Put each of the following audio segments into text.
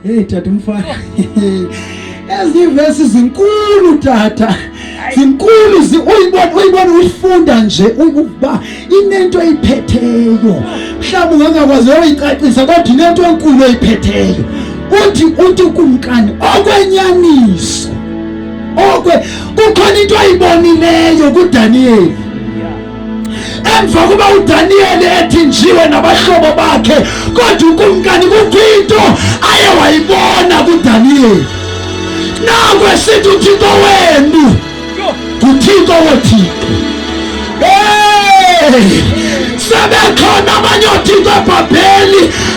Hey tata umfana. Ezi verse zinkulu tata. Zinkulu zi uyibona uyibona uyifunda nje ukuba inento eyiphetheyo. Mhlawumbe ungangakwazi uyicacisa kodwa inento enkulu eyiphetheyo. Uthi uthi kumkani okwenyaniso. Okwe kukhona into ayibonileyo kuDaniel. emva kuba udaniyeli ethinjiwe nabahlobo bakhe kodwa ukumkani kukho into aye wayibona kudaniyeli naku esithi uthixo wenu nguthixo wothixo sebekhona abanye othixo ebhabheli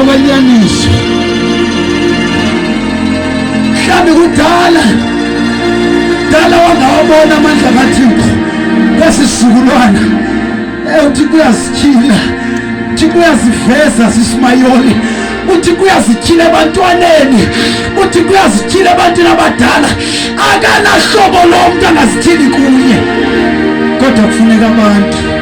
okwanyaniso mhlawumbi kudala dala wangawabona amandla kathixo kwesisizukulwana uthi kuyazityhila uthi kuyaziveza sisimayoli uthi kuyazityhila ebantwaneni uthi kuyazityhila ebantwini abadala akanahlobo lomntu angazityhili kunye kodwa kufuneka abantu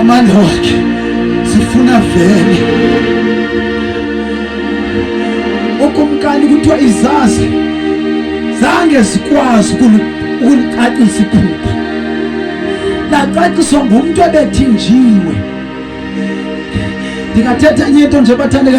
Amaloki sifuna vele ukumkani kuthiwa izazi zange zikwazi ukulicacisa iphupha lacaciswa ngumntu ebethinjiwe ndingathetha enye into nje bathandeka